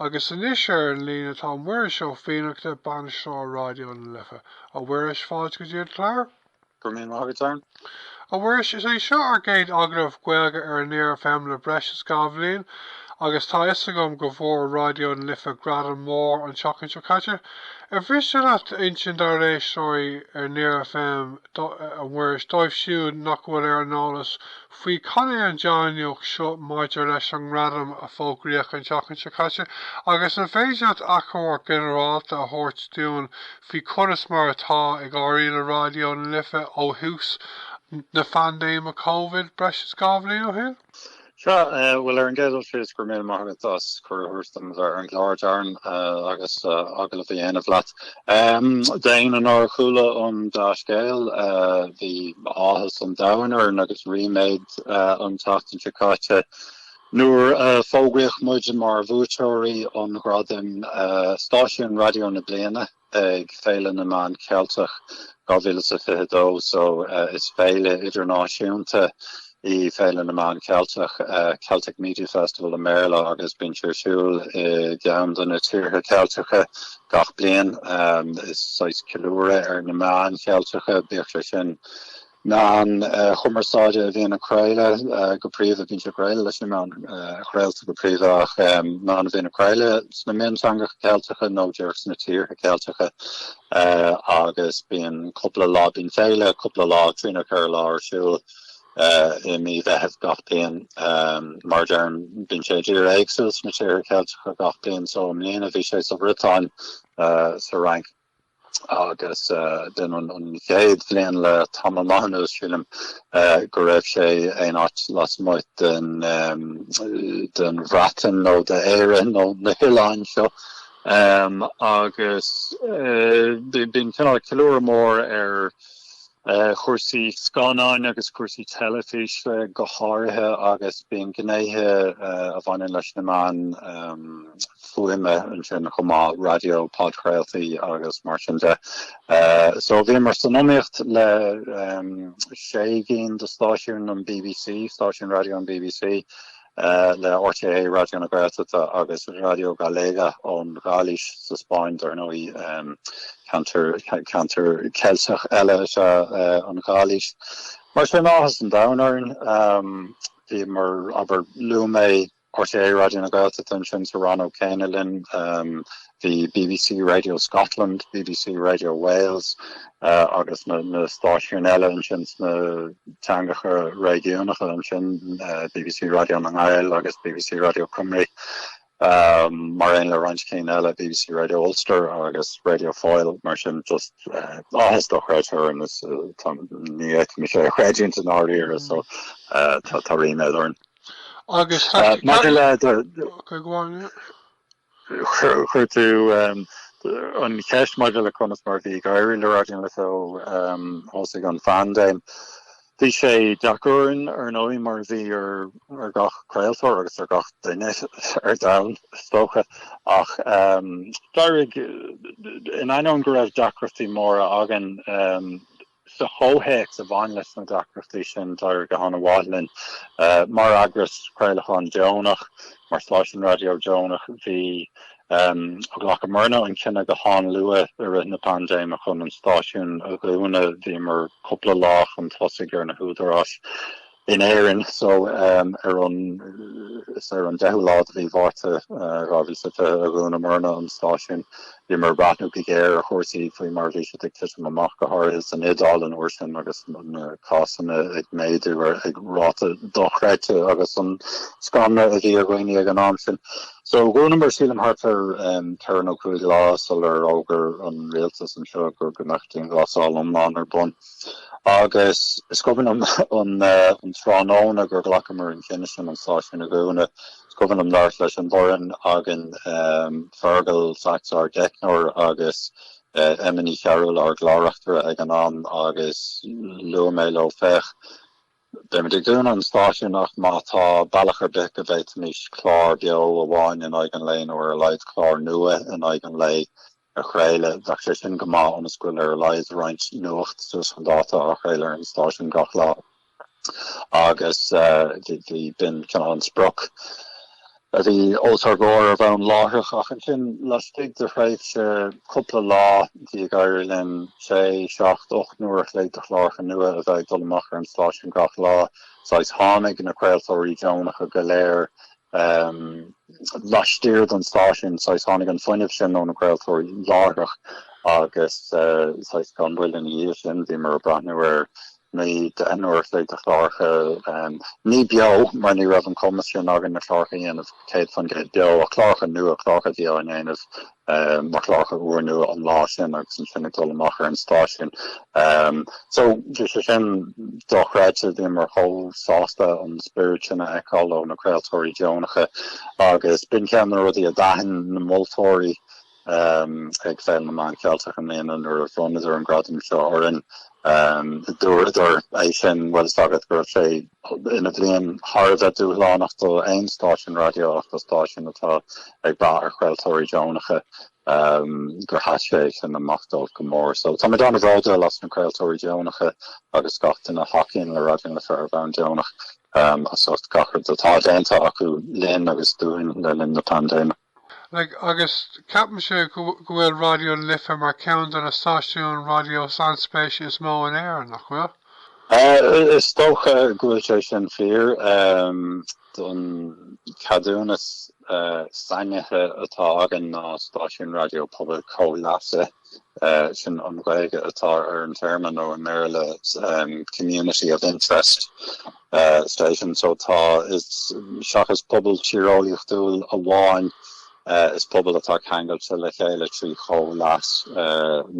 Agus anois ar an líne tá Muiris Ó Fiannachta, Bainisteoir Raidió na Life. A Mhuiris, fáilte go dtí an clár. Go raibh míle maith agat, Darren. A Mhuiris, is é seo ár gcéad agallamh Gaeilge ar Near FM le breis is dhá bhliain agus tá 'fhios agam go bhfuair Raidió na Life gradam mór an tseachtain seo caite. Ar mhiste leat insint dár n-éisteoirí ar Near FM, a Mhuiris, dóibh siúd nach bhfuil ar an eolas faoi cad é an dea-nuacht seo maidir leis an ngradam a fógraíodh an tseachtain seo caite agus an féidir leat achoimre ginearálta a thabhairt dúinn faoi conas mar atá ag éirí le Raidió na Life ó thús na phaindéime Covid breis is dhá bhliain ó shin? Sea, bhuel, ar an gcéad dul síos, go raibh míle maith agat as cuireadh a thabhairt dom bheith ar an gclár, Darren, agus agallamh a dhéanamh leat. Ehm, ón uair a chuala an dea-scéal, bhí áthas an domhain orainn agus ríméad an tseachtain seo caite nuair a fógraíodh muid mar bhuaiteoirí an ghradaim Stáisiún Raidió na Bliana ag Féile na Meán Ceilteach 2022. So is féile idirnáisiúnta í Féile na Meán Ceilteach, Celtic Media Festival i mBéarla, agus bíonn sé ar siúl i gceann de na tíortha Ceilteacha gach bliain. Is é saghas ceiliúradh ar na meáin Cheilteacha, bíodh sé sin meáin chumarsáide a bhíonn ag craoladh go príomha, baineann sé go mór leis na meáin chraolta go príomha ach meáin a bhíonn ag craoladh sna mionteangacha Ceilteacha nó díreach sna tíortha Ceilteacha agus bíonn cúpla lá, bíonn féile cúpla lá, trí nó ceithre lá ar siúl. i mí Mheithimh gach bliain mar a deirim bíonn sé i dtír éagsúil sna Tíortha Ceilteacha gach bliain so i mbliana bhí sé sa Bhriotáin sa Fhrainc agus b'in an chéad bhliain le tamall maith anuas sílim go raibh sé aon áit lasmuigh den Bhreatain nó d'Éire nó na hoileáin seo agus bíonn cineál ceiliúradh mór ar chúrsaí scannáin agus cúrsaí teilifíse go háirithe agus bíonn gnéithe a bhaineann leis na meáin fuaime ansin chomh maith, raidió, podchraoltaí agus mar sin de. So bhíomar san iomaíocht le sé gcinn de stáisiúin an bbc, stáisiúin raidió an bbc, le RTÉ Raidió na Gaeltachta agus Radio Galega ón Ghailís sa Spáinn, dar ndóigh ceantar, ceantar Ceilteach eile is ea an Ghailís. Mar sin áthas an domhain orainn, bhíomar, abair luaigh mé RTÉ Raidió na Gaeltachta ansin sa rannóg céanna linn, Bhí bbc Radio Scotland, bbc Radio Wales agus na stáisiúin eile ansin sna teangacha réigiúnacha ansin, bbc Radio na nGael agus bbc Radio Cymru, mar aon le roinnt cinn eile, bbc Radio Ulster agus Radio Foyle, mar sin just áthas dochreidte orainn, ní fhéadaim é a chreidiúint i ndáiríre so tá ríméad orainn. Agus maidir le do... Ok go on. Chuir tú an cheist maidir le conas mar a bhí ag éirí le Raidió na Life ó thosaigh an phaindéim. Bhí sé deacair ar ndóigh mar a bhí ar gach craoltóir agus ar gach duine ar domhan is dócha ach d'éirigh. In ainneoin go raibh deacrachtaí móra againn Sa chomhthéacs a bhain leis na deacrachtaí sin, d'éirigh go han-mhaith linn. Mar eagras craolacháin dheonach, mar stáisiún raidió deonach, bhí ghlacamarna an cinneadh go han-luath i rith na paindéime chun an stáisiún a dhúnadh. Bhíomar cúpla lá chun tosaigh ar na húdaráis. in Éirinn so ar an is ar an deichiú lá de mhí Mhárta dhá mhíle is fiche a dhúnamarna an stáisiún. Bhíomar ag breathnú go géar ar chúrsaí faoi mar a bhí siad ag titim amach go háirithe san Iodáil an uair sin agus na cásanna ag méadú ar ag ráta dochreidte agus an scanradh a bhí ar dhaoine ag an am sin. So dhúnamar sílim thart ar um, ceithre nó cúig lá sular fhógair an rialtas anseo go go mbeadh dianghlasáil iomlán ar bun. Agus is cuimhin liom an tráthnóna gur ghlacamar an cinneadh sin an stáisiún a dhúnadh. Is cuimhin liom labhairt leis an bhfoireann againn, Fearghal Saxe ár dteicneoir agus Emma Ní Chearúil ár gclár-reachtaire ag an am agus luaigh mé leo, Féach, beimid ag dúnadh an stáisiúin ach má tá bealach ar bith go bhféadfaimis clár beo amháin in aghaidh an lae nó ar a laghad clár nua in aghaidh an lae a chraoladh. Bheadh sé sin go maith ionas go bhfuil ar a laghad roinnt nuacht suas chun dáta á chraoladh ar an stáisiún gach lá agus bhí b'in cineál an sprioc a bhí os ár gcomhair ar bhonn láithreach ach ansin laistigh de thréimhse cúpla lá bhí ag éirí linn sé, seacht, ocht n-uair an chloig de chláracha nua a bheith ag dul amach ar an stáisiún gach lá. Saghas tháinig na craoltóirí deonacha go léir Laistiar den stáisiún saghas tháinig an fuinneamh sin ó na craoltóirí láithreach agus saghas gan mhoill ina dhiaidh sin bhíomar ag breathnú ar naoi, deich n-uair an chloig de chláracha, ní beo mar ní raibh an cumas sin againn na cláracha a dhéanamh céad faoin gcéad beo ach cláracha nua, cláracha a bhí á ndéanamh mar chláracha ar an raidió an lá sin agus ansin ag dul amach ar an stáisiún. So bhí sé sin dochreidte, bhíomar chomh sásta an spiorad sin a fheiceáil ó na craoltóirí deonacha agus b'in ceann de na rudaí a d'aithin na moltóirí ag Féile na Meán Ceilteach i mbliana nuair a bhronnadar an gradam seo orainn Dúradar é sin, an bhfuil a fhios agat go raibh sé ina bhliain thar a bheith dúshlánach do aon stáisiún raidió ach do stáisiún atá ag brath ar chraoltóirí deonacha gur sheas sé sin amach dóibh go mór. So táimid an-bhródúil as na craoltóirí deonacha agus gach duine a thacaíonn le Raidió na Life ar bhonn deonach as ucht gach rud atá déanta acu linn agus dúinn le linn na paindéime. Like agus ceapaimse go bhfuil Raidió na Life mar ceann de na stáisiúin raidió sainspéise is mó in Éirinn, nach bhfuil? Is dócha go bhfuil sé sin fíor, an ceadúnas sainithe atá againn ná stáisiún raidió pobail chomhleasa sin an Ghaeilge atá ar an téarma nó i mBéarla community of interest. station so tá is seachas pobal tíreolaíochtúil amháin is pobal atá ceangailte le chéile trí chomhleas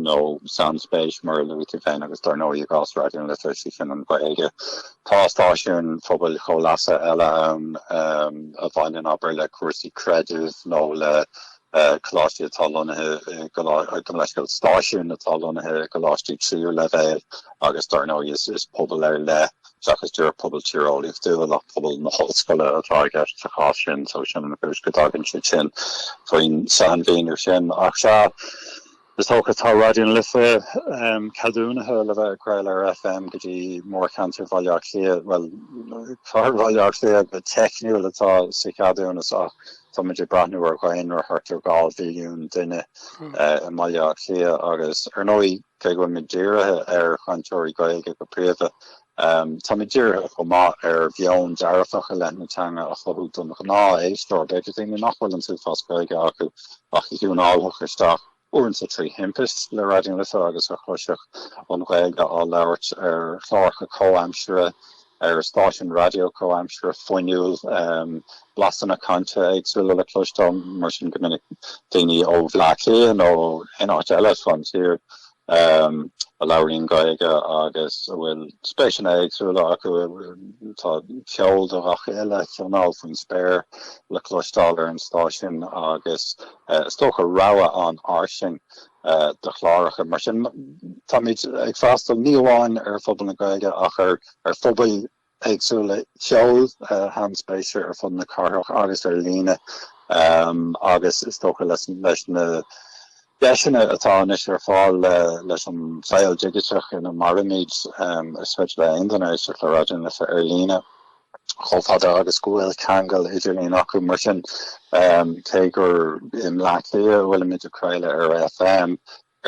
nó sainspéis mar a luaigh tú féin agus dar ndóigh i gcás Raidió na Life 'sé sin an Ghaeilge. Tá stáisiúin phobail chomhleasa eile ann a bhaineann abair le cúrsaí creidimh nó le e. Coláistí atá lonnaithe gabh mo leithscéal, stáisiúin atá lonnaithe i gcoláistí tríú leibhéal agus dar ndóigh is pobal ar leith seachas díreach pobal tíreolaíochtúil ach pobal na hollscoile atá i gceist sa chás sin so sin an chúis go dtagann siad sin faoin sainmhíniú sin ach sea Is dócha tá Raidió na Life ceadúnaithe le bheith ag craoladh ar FM go dtí mórcheantar Bhaile Átha Cliath, bhuel, cathair Bhaile Átha Cliath go teicniúil atá sa cheadúnas ach tá muid ag breathnú ar dhaonra thart ar dhá mhilliún duine i mBaile Átha Cliath agus ar ndóigh cé go bhfuil muid dírithe ar chainteoirí Gaeilge go príomha, Um, tá muid dírithe chomh maith ar mheon dearfach i leith na teanga a chothú don ghnáth-éisteoir, b'fhéidir daoine nach bhfuil an t-uafás Gaeilge acu ach a thiúnálfadh isteach uaireanta trí thimpiste le Raidió na Life agus a chloisfeadh an Ghaeilge á labhairt ar chláracha comhaimseartha, ar stáisiún raidió comhaimseartha fuinniúil, um, blasanna cainte éagsúla le cloisteáil, mar sin go minic daoine ó Bhleá Cliath nó ó áit éineacht eile fán tír. a labhraíonn Gaeilge agus a bhfuil spéiseanna éagsúla acu, tá ceol do gach uile chineál faoin spéir le cloisteáil ar an stáisiún agus is dócha rogha an-fhairsing de chláracha. Mar sin táimid ag freastal ní amháin ar phobal na Gaeilge ach ar phobail éagsúla ceoil an-spéisiúil ar fud na cathrach agus ar líne agus is dócha leis na deiseanna atá anois ar fáil leis an saol digiteach ina mairimid is féidir le aon duine éisteacht le Raidió na Life ar líne chomh fada agus go bhfuil ceangal idirlíon acu mar sin cé gur i mBleá Cliath a bhfuilimid ag craoladh ar FM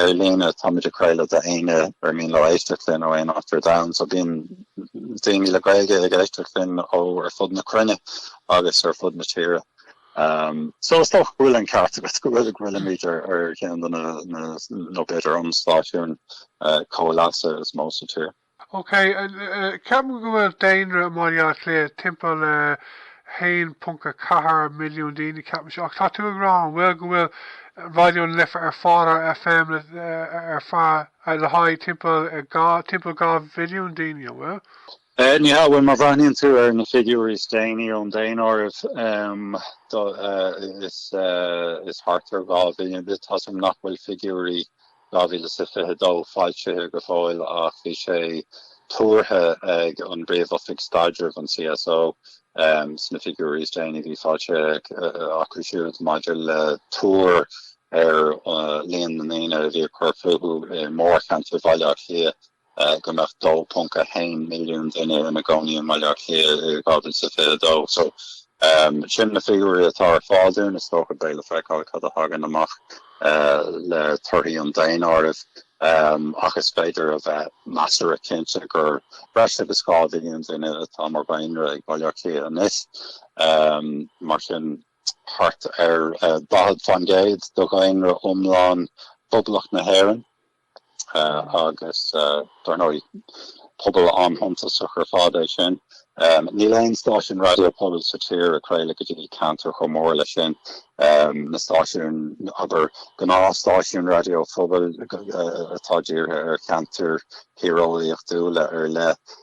Ar líne, Táimid ag craoladh d'éinne ar mian leo éisteacht linn ó aon áit ar domhan, so bíonn daoine le Gaeilge ag éisteacht linn ó ar fud na cruinne agus ar fud na tíre. So is dócha go bhfuil an ceart agat go bhfuil, go bhfuilimid ar cheann de na, nó b'fhéidir an stáisiún comhleasa is mó sa tír. Ok, ceapaim go bhfuil daonra i mBaile Átha Cliath timpeall le 1.4 milliún daoine, ceapaim seo. Ach tá tú ag rá an bhfuil go bhfuil Raidió na Life ar fáil ar FM ar feadh, le haghaidh timpeall, timpeall 2 mhilliún daoine, an bhfuil? Níl, bhuel má bhreathnaíonn tú ar na figiúirí is déanaí ón daonáireamh, is thart ar 2 mhilliún. Tá a fhios agam nach bhfuil figiúirí 2022 foilsithe go fóill ach bhí sé tuartha ag an bPríomh-Oifig Staidrimh, an CSO, sna figiúirí is déanaí a bhí foilsithe acu siúd maidir le tuar ar líon na ndaoine a bhí ag cur fúthu i mórcheantar Bhaile Átha Cliath. go mbeadh 2.1 milliún duine ina gcónaí i mBaile Átha Cliath i 2022. So, sin na figiúirí atá ar fáil dúinn. Is dócha beidh le feiceáil cad a thagann amach le torthaí an daonáirimh, ach is féidir a bheith measartha cinnte gur breis agus 2 mhilliún duine atá mar dhaonra ag Baile Átha Cliath anois. Mar sin, thart ar 40% de dhaonra iomlán Phoblacht na hÉireann agus dár ndóigh pobal an-shuntasach ar fad é sin. Níl aon stáisiún raidió pobail sa tír ag craoladh go dtí aon cheantar chomh mór leis sin. Na stáisiúin, abair, gnáthstáisiúin raidió phobail atá dírithe ar cheantair thíreolaíochtúla ar leith,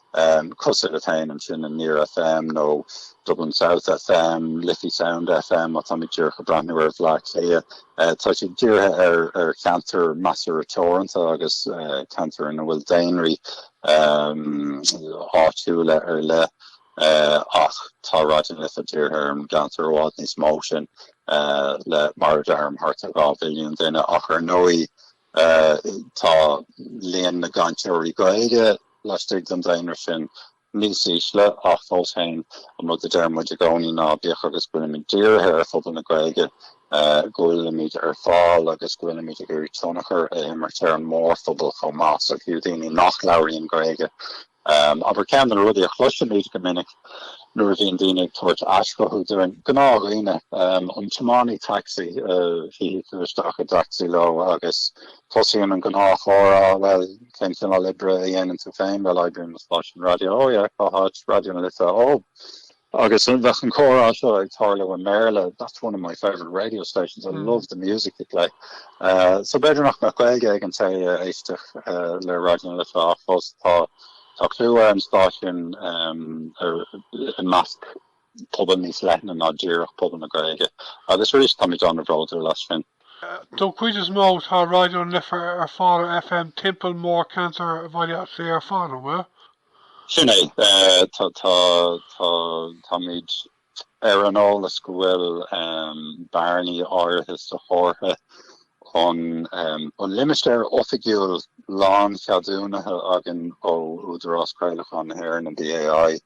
Cosúil le Phoenix FM, Near FM nó Dublin South FM, Liffey Sound FM, má táimid díreach ag breathnú ar Bhleá Cliath. Tá siad dírithe ar cheantair measartha teoranta agus ceantair ina bhfuil daonraí áitiúla ar leith ach tá Raidió na Life dírithe ar cheantar i bhfad níos mó sin le mar a deirim thart ar dhá mhilliún duine ach ar ndóigh Tá líon na gcainteoirí Gaeilge laistigh den daonra sin níos ísle ach fós féin, an rud a deir muid i gcónaí ná bíodh agus go bhfuilimid dírithe ar phobal na Gaeilge, go bhfuilimid ar fáil agus go bhfuilimid ag iarraidh tionchar a imirt ar an mórphobal chomh maith. So fiú daoine nach labhraíonn Gaeilge, Abair, ceann de na rudaí a chloisimid go minic nuair a bhíonn daoine ag tabhairt aischothú dúinn, gnáthdhaoine, an tiománaí taxi a shuífidh tú isteach i dtaxi leis agus tosaíonn an gnáthchomhrá, bhuel, cén cineál oibre a dhéanann tú féin? Bhuel, oibrím i stáisiún raidió. Ó, yeah, cá háit? Raidió na Life. Ó, Agus bheadh an comhrá seo ag tarlú i mBéarla, that's one of my favourite radio stations, I love the music they play. So b'fhéidir nach mbeadh Gaeilge ag an té a éisteodh le Raidió na Life ach fós tá clú ar an stáisiún i measc pobal níos leithne ná díreach pobal na Gaeilge. Agus arís táimid an-bhródúil as sin. Don chuid is mó tá Raidió na Life ar fáil ar FM timpeall mórcheantar Bhaile Átha Cliath ar fad, an bhfuil? Sin é. Tá, tá, tá, táimid ar an eolas go bhfuil bearnaí áirithe sa chomhartha ach an limistéar oifigiúil lán-cheadúnaithe againn ó Údarás Craolacháin na hÉireann, an BAI,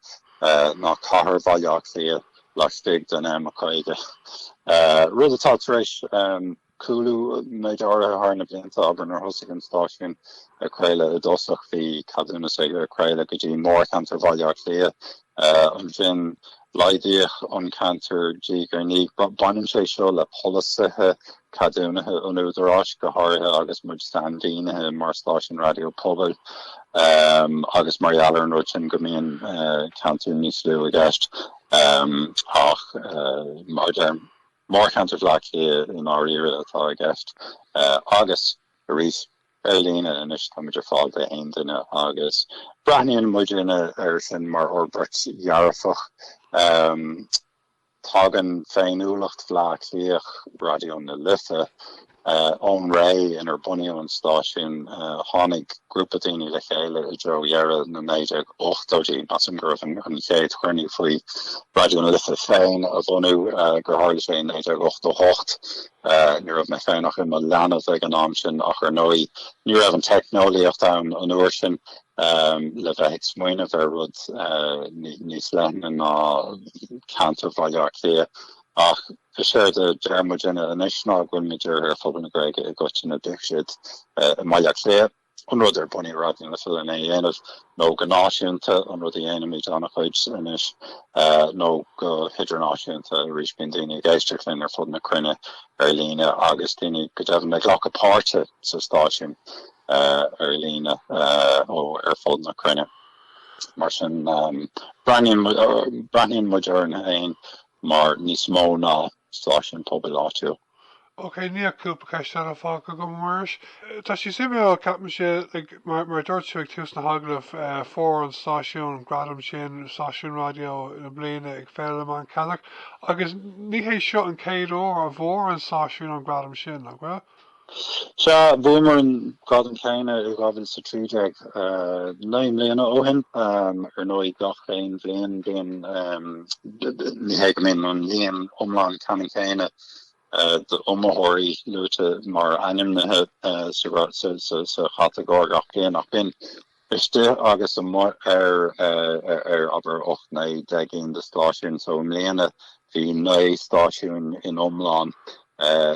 ná cathair Bhaile Átha Cliath laistigh den M50, rud atá tar éis. cúlú méid áirithe thar na blianta abair nuair thosaigh an stáisiún ag craoladh i dtosach bhí ceadúnas aige craoladh go dtí mórcheantar Bhaile Átha Cliath. Ansin laghdaíodh an ceantar diaidh ar ndiaidh. Baineann sé seo le polasaithe ceadúnaithe an Údaráis go háirithe agus muid sainmhínithe mar stáisiún raidió pobail agus mar gheall ar an rud sin go mbíonn ceantair níos lú i gceist ach mar a deir Mórcheantar Bhleá Cliath i ndáiríre atá i gceist agus arís ar líne anois táimid ar fáil d'aon duine agus breathnaíonn muid ar sin mar fhorbairt dhearfach. Tagann féiniúlacht Bhleá Cliath, Raidió na Life, Ón ré inar bunaíodh an stáisiún, tháinig grúpa daoine le chéile i dtreo dheireadh na 1980idí. Measaim go raibh an chéad chruinniú faoi Raidió na Life féin a bhunú gur tharla sé in 1988. Ní raibh mé féin ach i mo leanbh ag an am sin ach ar ndóigh ní raibh an teicneolaíocht ann an uair sin le bheith ag smaoineamh ar rud níos leithne ná ceantar Bhaile Átha Cliath. Ach is éard a deir muid anois ná go bhfuil muid dírithe ar phobal na Gaeilge i gcoitinne. Bíodh siad i mBaile Átha Cliath, an rud ar bunaíodh Raidió na Life lena dhéanamh, nó go náisiúnta, an rud a dhéanaimid an-chuid anois, nó go hidirnáisiúnta arís, bíonn daoine ag éisteacht linn ar fud na cruinne ar líne agus daoine go deimhin ag glacadh páirte sa stáisiún ar líne ó ar fud na cruinne. Mar sin breathnaíonn muid orainn féin mar níos mó ná stáisiún pobail áitiúil. OK, níl ach cúpla ceist eile fágtha agam, a Mhuiris. Tá sé suimiúil, ceapaimse, mar a dúirt tú ag tús na hagallaimh, fuair an stáisiún gradam sin, stáisiún raidió na bliana ag Féile na Meán Ceilteach, agus ní hé seo an chéad uair a bhfuair an stáisiún an gradam sin, nach bhfuil? Sea, bhuamar an gradam céanna i 2013, naoi mbliana ó shin. Ar ndóigh gach aon bhliain bíonn, ní hé go mbíonn an líon iomlán ceannann céanna d'iomaitheoirí luaite mar ainmnithe sa chatagóir gach bliain ach bíonn. istigh agus amuigh ar abair 8, 9, 10 gcinn de stáisiúin, so i mbliana bhí 9 stáisiúin san iomlán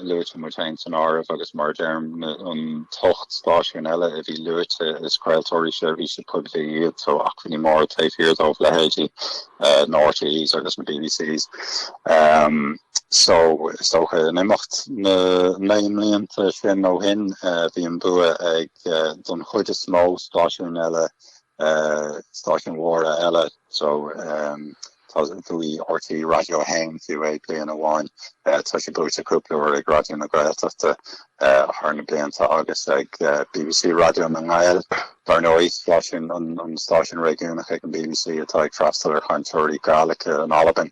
luaite, muid féin san áireamh, agus mar a deirim an t-ocht stáisiún eile a bhí luaite is craoltóirí seirbhíse poiblí iad, so acmhainní móra taobh thiar dóibh, leithéidí na RTÉs agus na BBCs. So is dócha in imeacht na naoi mblianta sin ó shin bhí an bua ag. don chuid is mó stáisiúin eile stáisiúin mhóra eile so bhuaigh RTÉ Radio 1 fiú é bliain amháin tá sé buaite cúpla uair ag Raidió na Gaeltachta thar na blianta agus ag BBC Radio nan Gàidheal dar ndóigh stáisiún an stáisiún réigiúnach ag an BBC atá ag freastal ar chainteoirí Gaeilge in Albain.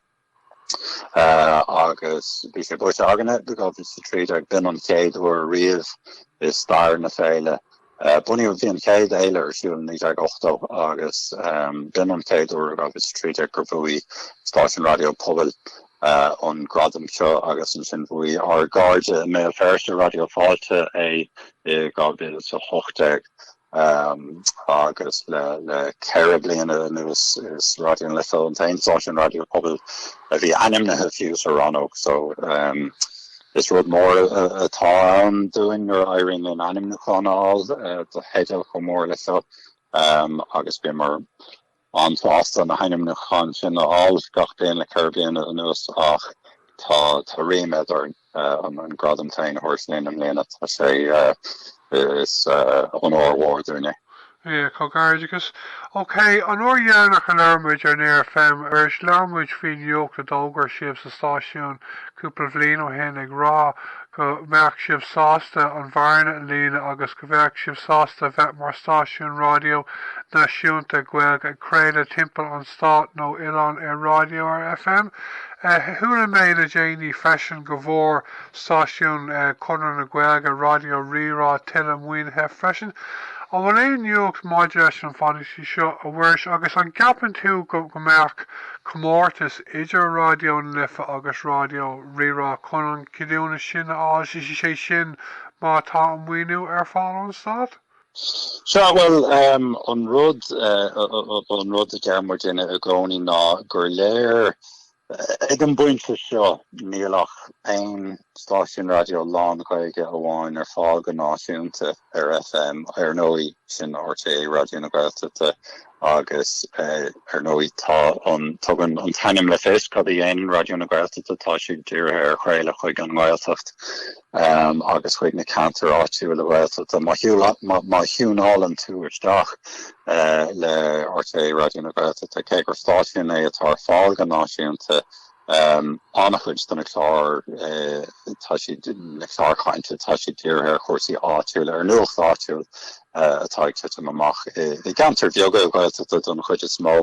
agus bhí sé buaite againn i 2013 b'in an chéad uair riamh i stair na féile. Bunaíodh bhí an chéad fhéile ar siúl i 1980 agus b'in an chéad uair i 2013 gur bhuaigh stáisiún raidió pobail an gradam seo agus ansin bhuaigh ár gcairde i mBéal Feirste, Raidió Fáilte, é i 2018. agus le ceithre bliana anuas is Raidió na Life an t-aon stáisiún raidió pobail a bhí ainmnithe fiú sa rannóg so is rud mór atá ann dúinn nuair a éiríonn linn ainmniúchán a fháil do theideal chomh mór le seo agus bíomar an-sásta na hainmniúcháin sin a fháil, gach bliain le ceithre bliana anuas ach tá ríméad orainn an gradam féin a thabhairt linn i mbliana. Is onóir mhór dúinn é. Míle comhghairdeachas. OK, an uair dheireanach a labhair muid ar Near FM arís labhair muid faoin nuacht a d'fhógair sibh sa stáisiún cúpla bhliain ó shin ag rá go mbeadh sibh sásta an bhearna a líonadh agus go mbeadh sibh sásta a bheith mar stáisiún raidió náisiúnta Gaeilge ag craoladh timpeall an stáit nó oileáin ar raidió ar FM. Chuala mé le déanaí freisin go bhfuair stáisiún Chonradh na Gaeilge, Raidió Rí-Rá, tuilleadh maoinithe freisin. An bhfuil aon nuacht maidir leis an pholasaí seo, a Mhuiris, agus an gceapann tú go mbeadh comórtas idir Raidió na Life agus Raidió Rí-Rá chun an ceadúnas sin a fháil, sé sin Má tá an maoiniú ar fáil ón stát? Sea, bhuel, an rud, an rud a deirimid muidne i gcónaí ná gur léir ag an bpointe seo níl ach aon stáisiún raidió lán-Ghaeilge amháin ar fáil go náisiúnta ar FM, ar ndóigh sin rté Raidió na Gaeltachta. Agus ar ndóigh tá an, tugann an t-ainm le fios cad a dhéanann Raidió na Gaeltachta, tá siad dírithe ar chraoladh chuig an nGaeltacht agus chuig na ceantair áitiúla Ghaeltachta. Má thiúin, má thiúnálann tú isteach le rté Raidió na Gaeltachta, cé gur stáisiún é atá ar fáil go náisiúnta, An-chuid de na cláir atá siad, na cláir chainte, tá siad dírithe ar chúrsaí áitiúla, ar nuacht áitiúil atá ag titim amach i gceantair bheaga Ghaeltachta don chuid is mó.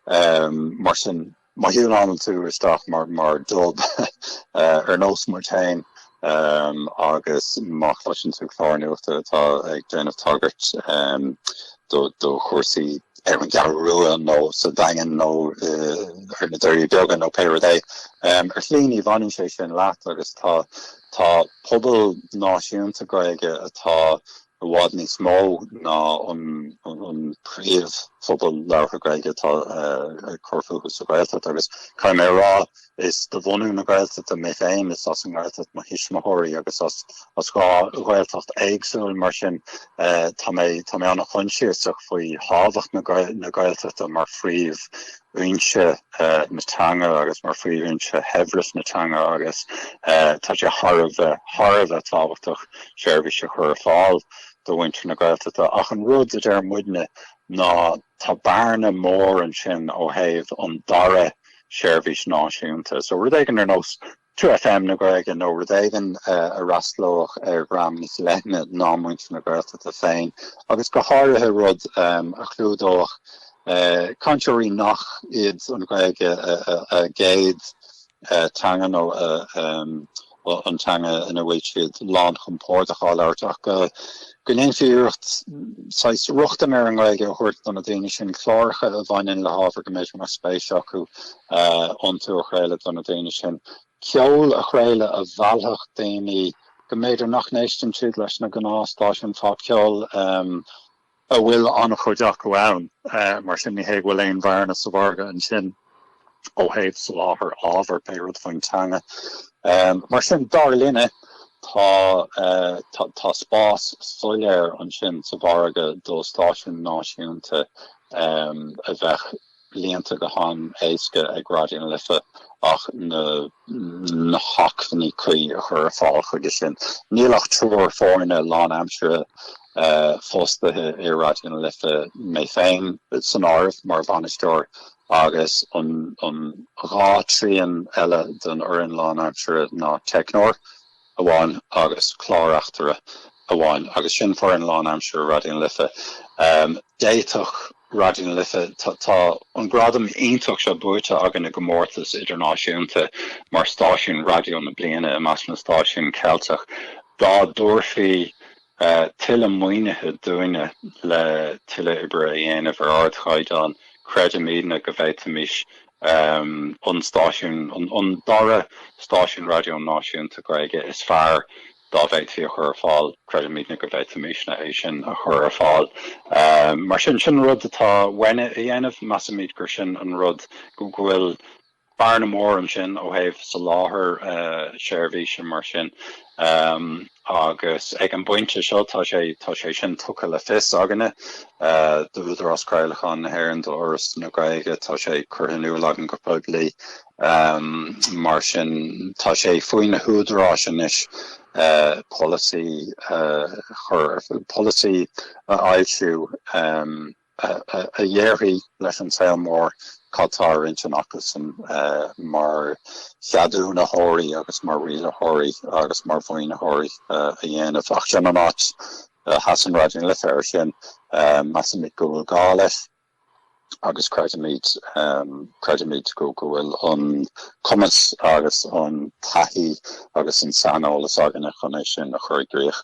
Mar sin, má thiúnálann tú isteach mar dub ar nós muid féin agus má chloiseann tú clár nuachta atá ag déanamh tagairt do chúrsaí ar an gCeathrú Rua nó sa Daingean nó ar na Doirí Beaga nó pé rud é. Ar shlí ní bhaineann sé sin leat agus tá tá pobal náisiúnta Gaeilge atá i bhfad níos mó ná an an príomhphobal labhartha Gaeilge atá ag cur fúthu sa Ghaeltacht agus caithfidh mé a rá Is de bhunadh na Gaeltachta mé féin, is as an nGaeltacht mo thuismitheoirí agus as dhá Ghaeltacht éagsúil, mar sin tá mé an-choinsiasach faoi thábhacht na Gaeltachta mar phríomhfhoinse na teanga agus mar phríomhfhoinse shaibhreas na teanga agus tá sé thar a bheith tábhachtach seirbhís a chur ar fáil do mhuintir na Gaeltachta. Ach an rud a deir muidne ná, Tá bearna mór ansin ó thaobh an dara seirbhís náisiúnta so rud éigin ar nós 2FM na Gaeilge nó rud éigin a fhreastlódh ar dhream níos leithne ná muintir na Gaeltachta féin agus go háirithe rud a chlúdódh cainteoirí nach iad an Ghaeilge a gcéad teanga nó an teanga ina bhfuil siad lán chompordach á labhairt ach go ndéanfaí iarracht saghas rochtain ar an nGaeilge a thabhairt do na daoine sin, cláracha a bhaineann le hábhar go mb'fhéidir nach spéis acu iontu a chraoladh do na daoine sin, ceol a chraoladh a mheallfadh daoine go mb'fhéidir nach n-éisteann siad leis na gnáthstáisiúin pop cheoil a bhfuil an-chuid acu ann, mar sin ní hé go bhfuil aon bhearna sa mhargadh ansin ó thaobh soláthair ábhair, pé rud faoin teanga. Mar sin, dar linne, tá tá spás soiléir ansin sa mhargadh do stáisiún náisiúnta a bheadh líonta go han-éasca ag Raidió na Life ach na hacmhainní cuí a chur ar fáil chuige sin. Níl ach triúr foirne lánaimseartha fostaithe i Raidió na Life, mé féin san áireamh, mar bhainisteoir agus an dhá thrian eile den fhoireann lánaimseartha ná teicneoir amháin agus clár-reachtaire amháin agus sin foireann lánaimseartha Raidió na Life. D'fhéadfadh Raidió na Life, tá an gradam iontach seo buaite againn i gcomórtas idirnáisiúnta mar stáisiún raidió na bliana i measc na stáisiún Ceilteach, dá dtabharfaí tuilleadh maoinithe dúinne le tuilleadh oibre a dhéanamh ar ardchaighdeán. Creidimidne go bhféadfaimis an stáisiún, an dara stáisiún raidió náisiúnta Gaeilge is fearr dá bhféadfaí a chur ar fáil, creidimidne go bhféadfaimisne é sin a chur ar fáil. Mar sin, sin an rud atá uainne a dhéanamh. Measaimid gur sin an rud go go bhfuil bearna mhór ansin ó thaobh soláthair seirbhíse mar sin agus ag an bpointe seo tá sé tá sé sin tugtha le fios againne d'Údarás Craolacháin na hÉireann, do Fhoras na Gaeilge, tá sé curtha in iúl againn go poiblí mar sin tá sé faoi na húdaráis anois polasaí a chur ar polasaí a fhoilsiú. a dhéarfaidh leis an saol mór cad tá ar intinn acusan mar cheadúnaitheoirí agus mar rialaitheoirí agus mar mhaoinitheoirí a dhéanamh. Ach sin an áit a sheasann Raidió na Life air sin, measaimid go bhfuil gá leis agus creidimid creidimid go go bhfuil an cumas agus an taithí agus an saineolas againne chun é sin a chur i gcrích.